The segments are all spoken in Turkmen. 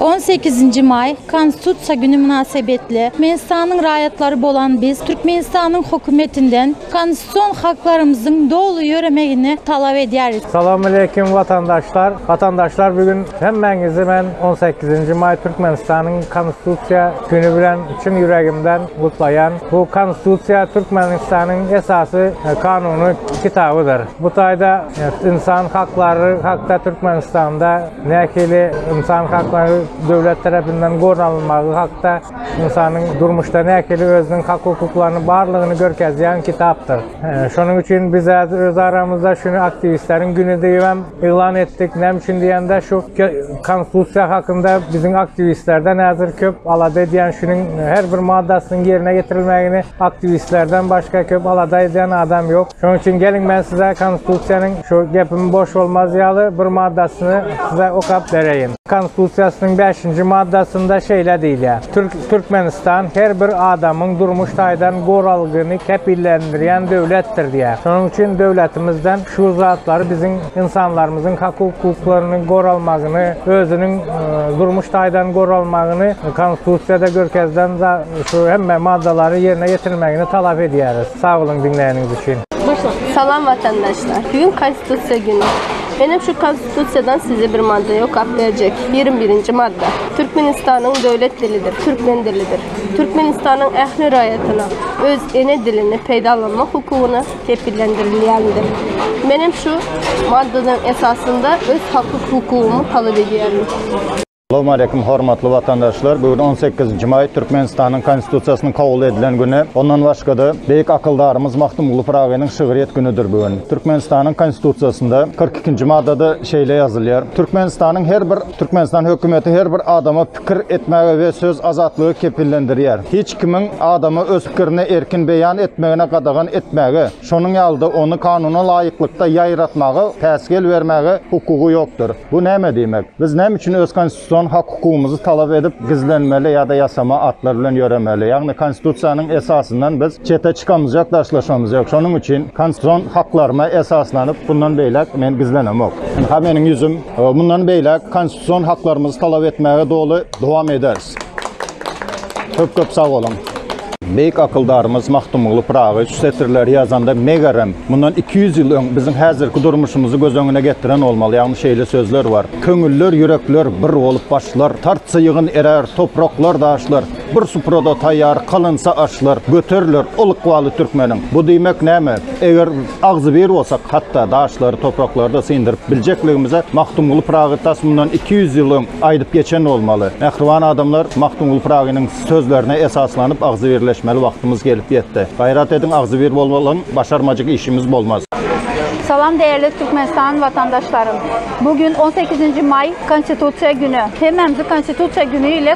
On sekizinji maý, Konstitusiýa güni mynasybetli, Türkmenistanyň raýatlary bolan biz Türkmenistanyň Hökümetinden konstitusion haklarymyzyň doly ýöremegini talap edýäris. Salowmaleýkim watandaşlar! Watandaşlar bu gün hemmäňizi men on sekizinji maý Türkmenistanyň Konstitusiýa Güni bilen çyn ýüregimden gutlaýan. Bu Konstitusiýa Türkmenistanyň esasy kanuny kitabydyr. Bu taýda ynsan haklary hakda Türkmenistanda nähili ynsan haklary döwlet terepinden goralynmagy hakda ynsanyň durmuşda nähili özüniň hak-hukuklaryny barlygyny görkezýän kitapdyr. Şonuň üçin biz häzir öz aramyzda şuny aktiwistleriň güni diýibem Yglan etdik. Näme üçin diýende, şu Konstitusiýa hakynda biziň aktiwistlerden häzir köp alada edýän, şunuň her bir maddasynyň ýerine ýetirilmegini aktiwistlerden başga köp alada edýän adam ýok. Şonuň üçin geliň men size Konstitusiýanyň şu gepim boş bolmaz ýaly bir maddasyny size okap bereýin. Konstitusiýasynyň bäşinji maddasynda şeýle diýilýär, Türk Türkmenistan her bir adamyň durmuş taýdan goralgyny kepillendirýän döwletdir diýýär. Şonuň üçin döwletimizden şu zatlary biziň ynsanlarymyzyň hak-hukuklarynyň goralmagyny, özüniň durmuş taýdan goralmagyny Konstitusiýada görkezilen şu hemme maddalary ýerine ýetirmegini talap edýäris. Sag boluň diňleýäniňiz üçin. Salam watandaşlar. Bu gün Konstitusiýa güni. Menem şu Tutsiýadan size bir madda ýokap berjek. Ýigrimi birinji madda. Türkmenistanyň döwlet dilidir, türkmen dilidir. Türkmenistanyň ähli raýatyna öz ene dilini peýdalanmak hukugyny kepillendirilýändir. Menem şu maddanyň esasynda öz haky-hukugymy talap edýärin. Salam aleýkum hormatly watandaşlar. Bu gün on sekizinji maý Türkmenistanyň Konstitusiýasynyň kabul edilen güni. Ondan başga-da beýik akyldarymyz Magtymguly Pyragynyň şygryýet günüdir bu gün. Türkmenistanyň Konstitusiýasynda kyrk ikinji maddada şeýle ýazylýar, Türkmenistanyň her bir Türkmenistan hökümeti her bir adama pikir etmäge we söz azatlygy kepillendirýär. Hiç kimiň adama öz pikirini erkin beýan etmegine gadagan etmäge, Şonuň ýaly-da, ony kanuna laýyklykda ýaýratmaga, päsgel bermäge hukugy ýokdur. Bu näme diýmek? Biz näme üçin öz konstitusion hak-hukugymyzy talap edip, gizlenmeli ýa-da ýasama atlar bilen ýöremeli? Ýagny, konstitusiýanyň esasyndan biz çete çykamyzýok, daşlaşmamyz ýok. Şonuň üçin konstitusion haklaryma esaslanyp, bundan beýläk men gizlenemok. Ynha meniň ýüzüm. Mundan beýläk konstitusion haklarymyzy talap etmäge doly dowam ederis. Köp köp sag boluň. Beýik akyldarymyz Magtymguly Pyragy şu setirleri ýazanda megerem, mundan iki ýüz ýyl öň biziň häzirki durmuşymyzy göz öňüne getiren bolmaly. Ýagny şeýle sözler bar, Köňüller, ýürekler bir bolup başlar, Tartsa ýygyn erer topraklar, daşlar, Bir suprada taýýar kalynsa aşlar, Göteriler ol ykbaly türkmeniň. Bu diýmek näme? Eger agzybir bolsak, hatda daşlary, topraklary-da syndyryp biljekligimize Magtymguly Pyragy tas mundan iki ýüz ýyl öň aýdyp geçen bolmaly. Mähriban adamlar, Magtymguly Pyragynyň sözlerine esaslanyp agzybirleşmeli wagtymyz gelip ýetdi. Gaýrat ediň, agzybir bolmalyň, başarmajyk işimiz bolmaz. Salam däerli Türkmenistan watandaşlarym. Bu gün on sekizinji maý Konstitusiýa güni. Hemmämizi Konstitusiýa güni ile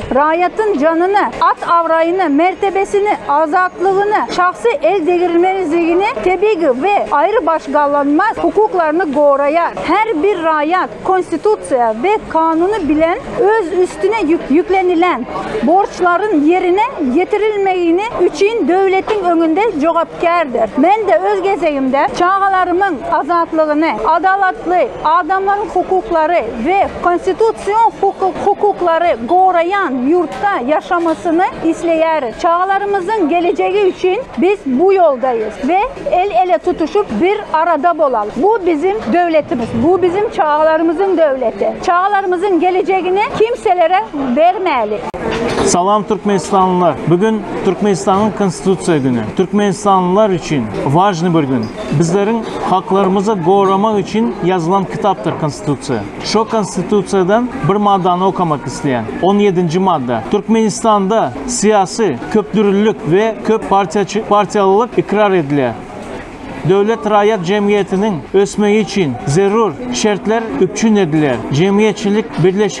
Raýatyň janyny, at-abraýyny, mertebesini, azatlygyny, şahsy eldegrilmezligini, tebigy we aýrybaşgalanmaz hukuklaryny goraýar. Her bir raýat Konstitusiýa we kanuny bilen öz üstüne ýüklenilen borçlaryň ýerine ýetirilmegini üçin döwletiň öňünde jogapkärdir. Men-de öz gezegimde çagalarymyň azatlygyny, adalatly adamlaryň hukuklary, we konstitusion hukuk-hukuklary goraýan ýurtda ýaşamasyny isleýäris. Çagalarymyzyň gelejegi üçin biz bu ýoldaýys we el-ele tutuşyp bir arada bolalyň. Bu biziň döwletimiz, bu biziň çagalarymyzyň döwleti. Çagalarymyzyň gelejegini kimselere bermäli. Salam Türkmenistanlylar! Bu gün Türkmenistanyň Konstitusiýa güni. Türkmenistanlylar üçin wažnyý bir gün. Bizleriň haklarymyzy goramak üçin ýazylan kitapdyr Konstitusiýa. Şo Konstitusiýadan bir maddany okamak isleýän. On ýedinji madda. Türkmenistanda syýasy köpdürlilik we köp partiýaçy partiýalylyk ykrar edilýär. Döwlet raýat jemgyýetiniň ösmegi üçin zerur şertler üpjün edilýär. Jemgyýetçilik birleş